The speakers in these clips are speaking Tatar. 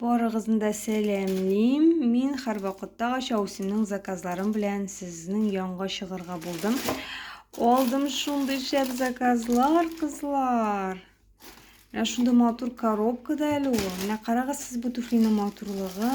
Барыгызны да сәламлим. Мин һәрвакытта Ача Усинның заказларым белән сезнең янга чыгарга булдым. Алдым шундый шәп заказлар, кызлар. Менә шундый матур коробкада әле ул. Менә карагыз сез бу туфлиның матурлыгы.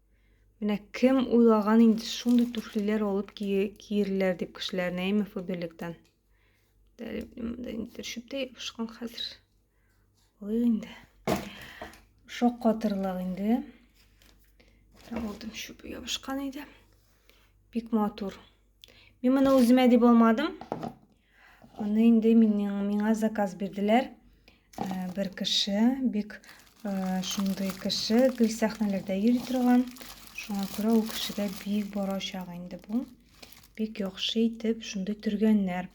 Менә кем уйлаган инде шундый туфлиләр алып киерләр дип кешеләрне, әйме Фаберлектан. Монда инде шөптә ябышкан хәзер. Алыйк инде. Шок катырлык инде. Траволтым шөп ябышкан иде. Бик матур. Мин моны үземә дип алмадым. Аны инде миңа заказ бирделәр. Э, бер кеше, бик э, шундый кеше, гел сәхнәләрдә йөри торган. Шуңа күрә ул кешегә бик барачак инде бу. Бик яхшы итеп шундый төргәннәр.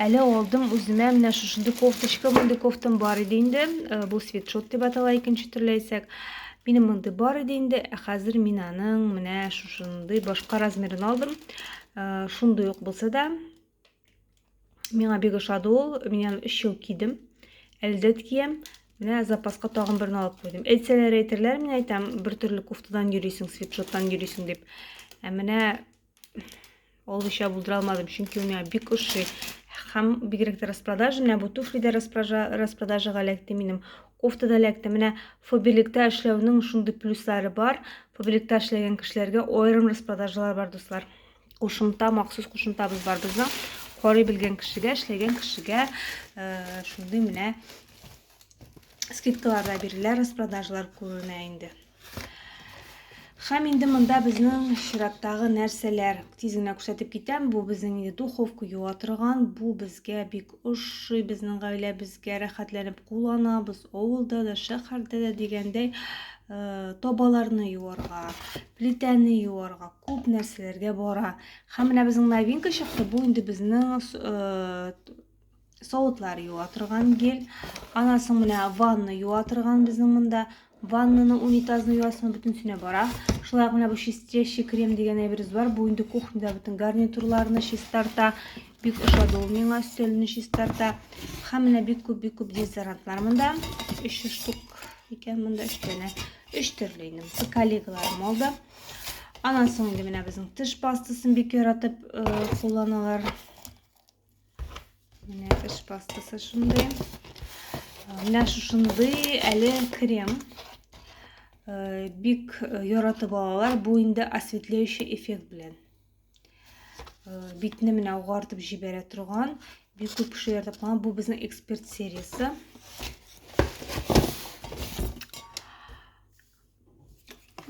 Әле алдым үземә менә шушындый кофточка, мондый кофтам бар иде инде. Э, бу свитшот дип атала икенче төрле әйтсәк. Минем мондый бар иде инде, ә хәзер мин аның менә шушындый башка размерын алдым. Шундый ук булса да, Миңа бик ошады ул. Мин аны 3 ел кидем. Әле дә киям. Менә запаска тагын берне алып куйдым. Әйтсәләр әйтерләр, мин әйтәм, бер төрле кофтадан йөрисең, свитшоттан йөрисең дип. Ә менә алуча булдыра алмадым, чөнки ул миңа бик ошый. Һәм бигрәк тә распродажа, менә бу туфли дә распродажага эләкте минем, кофта да эләкте. Менә Фобелектә эшләүнең шундый плюслары бар. Фобелектә эшләгән кешеләргә аерым распродажалар бар, дуслар. кушымта махсус кушымтабыз бар безнең карый белгән кешегә эшләгән кешегә э, шундый менә скидкалар да бирелә распродажалар күренә инде һәм инде монда безнең чираттагы нәрсәләр тиз генә күрсәтеп китәм бу безнең инде духовка юа торган бу безгә бик ошый безнең гаиләбезгә рәхәтләнеп кулланабыз авылда да шәһәрдә дә дигәндәй э, табаларны юарга плитәне юарга күп нәрсәләргә бара һәм менә безнең новинка чыкты бу инде безнең э, савытлар юа торган гель анасың менә ванна юа торган безнең монда Ваннаны, унитазны юасың, бөтенесенә бара. Шулай ук менә бу чистящий крем дигән әйберебез бар. Бу инде кухняда бөтен гарнитурларны чистарта. Бик ошады ул миңа, өстәлне чистарта. Һәм менә бик күп, бик күп дезодорантлар монда. 300 штук икән монда 3 тәне. 3 төрле инде. Бу коллегаларым алды. Анан соң инде менә безнең тыш пастасын бик яратып э, кулланалар. Менә теш пастасы шундый. Менә шушындый әле крем. Э, бик э, яратып алалар. Бу инде осветляющий эффект белән. Э, битне менә угартып җибәрә торган. Бик күп кеше яратып калган. Бу безнең эксперт сериясе.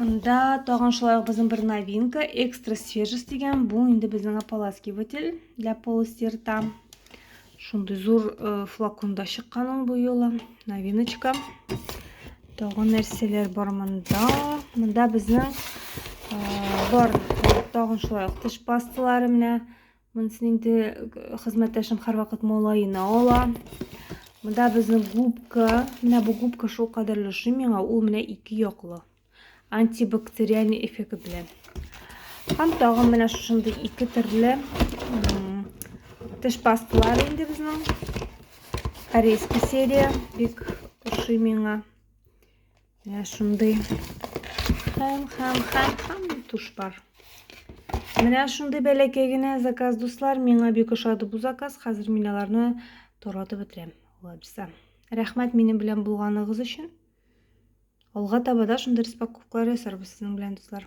Монда тагын шулай ук безнең бер новинка, экстра свежесть дигән, бу инде безнең ополаскиватель для полустерта. Шундый зур э, флаконда чыккан ул бу юлы, новиночка. Тагын нәрсәләр бар монда. Монда безнең э, бар тагын шулай ук теш пасталары менә Монсын инде хезмәттәшем һәрвакыт малаена ала. Монда безнең губка. Менә бу губка шул кадәрле ошый миңа. Ул менә ике яклы. Антибактериальный эффект белән. Һәм тагын менә шушындый ике төрле теш пасталар инде безнең. Корейский серия бик ошый миңа. Менә шундый хәм хәм хәм хәм тушпар. Менә шундый бәләкәй генә заказ, дуслар. Миңа бик ошады бу заказ. Хәзер мин аларны торатып бетерәм. Лапса. Рәхмәт минем белән булганыгыз өчен. Алга таба да шундый распаковкалар ясарбыз сезнең белән, дуслар.